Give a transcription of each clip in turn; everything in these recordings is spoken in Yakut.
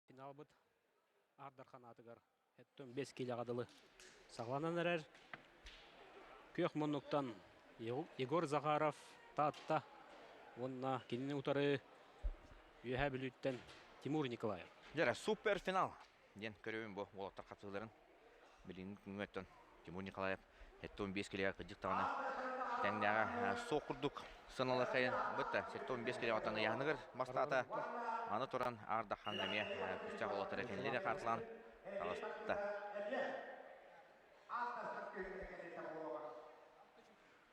Финалбыт Аар Дархан аатыгар бэс киилэҕэ дылы саҕаланан эрэр. Күөх муннуктан Егор Захаров Таатта уонна кинини утары Үөһээ Бүлүүттэн Тимур Николаев. Дьэрэ, супер финал! диэн көрүбүн бу уолаттар хатыыларын. билиҥҥи күҥҥэттэн Тимур Николаев сэттэ уон биэс килоҕа кырдьык даҕаны тэҥнээҕэ суох курдук сыаналыаххайын бытта сэттэ уон биэс килоҕа таныйааһыныгар мастаата аны туран Ардаххан эмиэ күүстээх уолаттара кинилэри хаартылаан таҕыста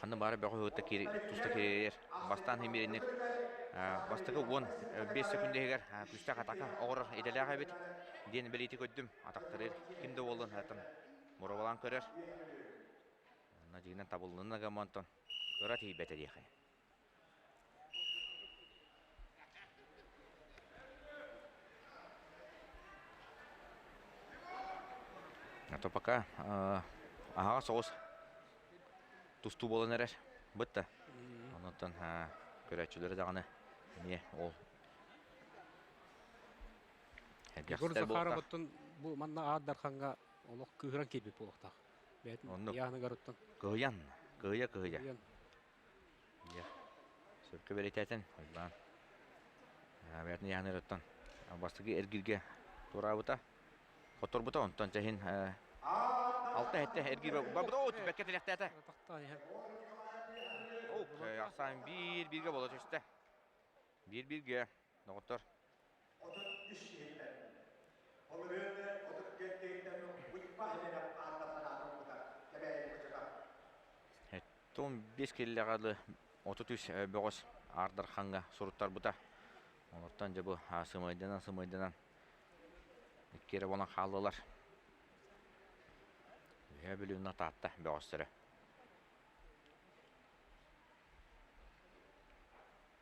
ханна баара бөҕө ыһыытта киир туста кириэйэр. Бастаан химиэринник бастакы уон биэс секунда иһигэр күүстээх атака оҕорор идэлээх эбит диэн бэлиити көрдүм атахтарыыр ким да буоллун атам муравалаан көрөр надьыынан табыллынна гамонтон кыра тиийбэтэ диэхэ А то пока э, аһаҕа соҕус тустуу буолан эрэр бытта онуттан көрөөччүлөрө даҕаны эмиэ ол Егор Захаровыттан бу манна аар дарханга олох кыыран киирбит буолуохтаах. Бээтин Яныгаруттан. Кыйан, кыйа кыйа. Дьэ, сөпкө бэлэтээтин, Уйбаан. Бэйэтин ыйааныгыттан бастакы эргиргэ туораабыта. Хотторбута онтон чэһин алта эһэтэ эргир барбыта. Оо, түбэккэ тилэхтээтэ. Ахсаан биир-бииргэ боло түстэ. Биир-бииргэ. Доҕоттор. Отут үс иһиттэн. Ол ырыаны отут биэстээһиттэн быспаһын эрэ аата санаатын ылбыта кэбээйи бачата. Тун биэс киллэҕэ лы отут үс бөҕөс аардарханга суруттарбыта. Олортон дьабы сымайданан сымайданан иккиэрэ болан хааллылар. Үһэ бүлүнна таатта бөҕөстөрө.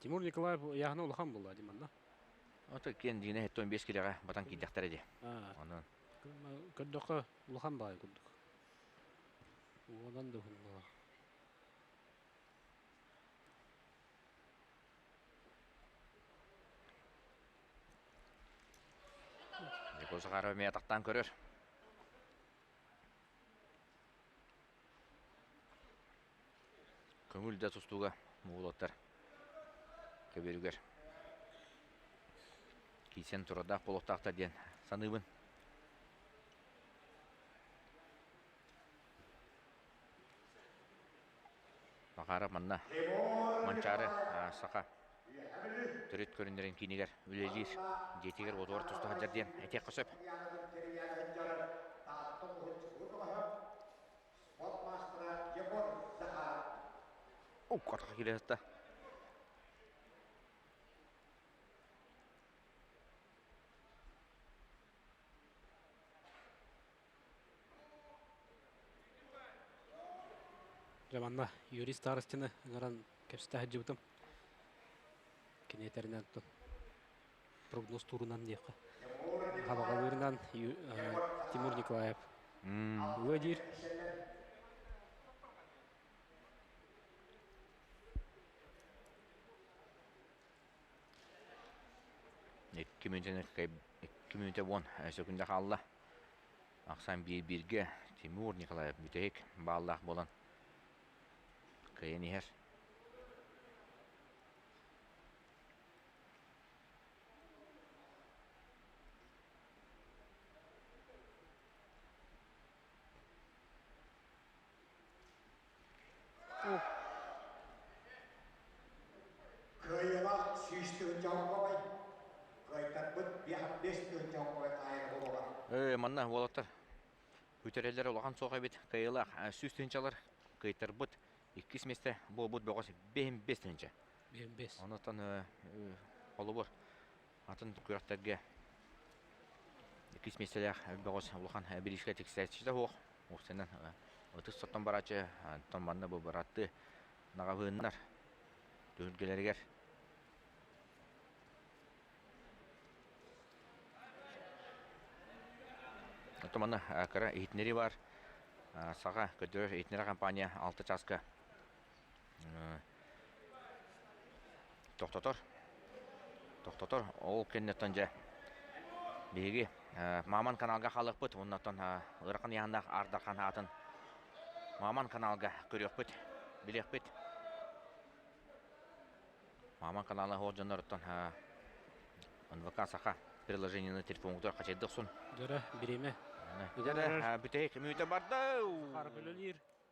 Тимур Николаев ыйааһына улахан буолла дим манна. Ото киэн дигине хеттон биэс килеҕэ батан киидэхтэрэ ди. Онон. Көрдөхө улахан баай курдук. Уодан да хуннула. Николай Захаров меня тақтан көрөр. Көҥүл да тустууга уолаттар көбүөрүгэр киирсэн турардаах буолуохтаахтар диэн саныыбын. Макаров манна Манчаары саха Төрүт көрүннэрин киинигэр үлэлиир, дьиэтигэр уотугар туста сылдьар диэн этиэххэ сөп. Уккатаха келе Дьэ манна Юрий Старостины ыҥыран кэпсэтэ сылдьыбытым. Кини этэринэн тутун прогноз туурунан диэххэ. Хабаҕалыырынан Тимур Николаев уга диир. Икки мүнүүтэ мүнүүтэ уон сөкүндэ хаалла. Ахсан биир бииргэ Тимур Николаев бүтэһик бааллаах буолан кыайан иһэр. Кыайыма сүүс тыһы чоҥкобай. Кыайтарбыт биэһэх бэс тыһы чоҥкобай таайыра буолар. Э, манна уолаттар үтэрэлэр улахан суох эбит. Кыйылах сүүс тыһынчалар кыйтарбыт иккис месте буолбут бөҕөс бэһин бес тыһынча. Бэс. Онуттан холобур Атын күрэхтэргэ иккис миэстэлээх бөҕөс улахан бириискэ тиксээччитэ суох. Устанан ытыс соттон барааччы, оттон манна бу быраттыы наҕабыыннар түһүлгэлэригэр Оттон манна кыра иһитиннэрии баар. Саха көрдөрөр иһитиннэрэр компания алта чааска тохтотор. Тохтотор. Ол кэнниттэн дьэ биһиги Маман каналга халыкпыт уоннаттан ырахан яһандаах ардархан аатын Маман каналга көрүөхпүт, билиэхпит. Маман канала ол дьонноруттан НВК саха приложение на телефонугар хачайдыхсун. Дөрө, бириме. Бүтэһик мүйтэ барда. Харбылылир.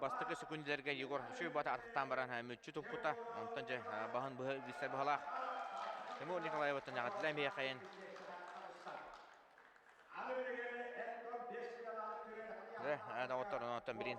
Бастакы секундилэргэ Егор үчүгэй бата атахтаан баран мүччү туппута. Онтон дьэ баһын быһа билсэр быһалаах. Тимур Николаевыттан яҕатыла эмиэхэйин. Доҕоттор оноттон билин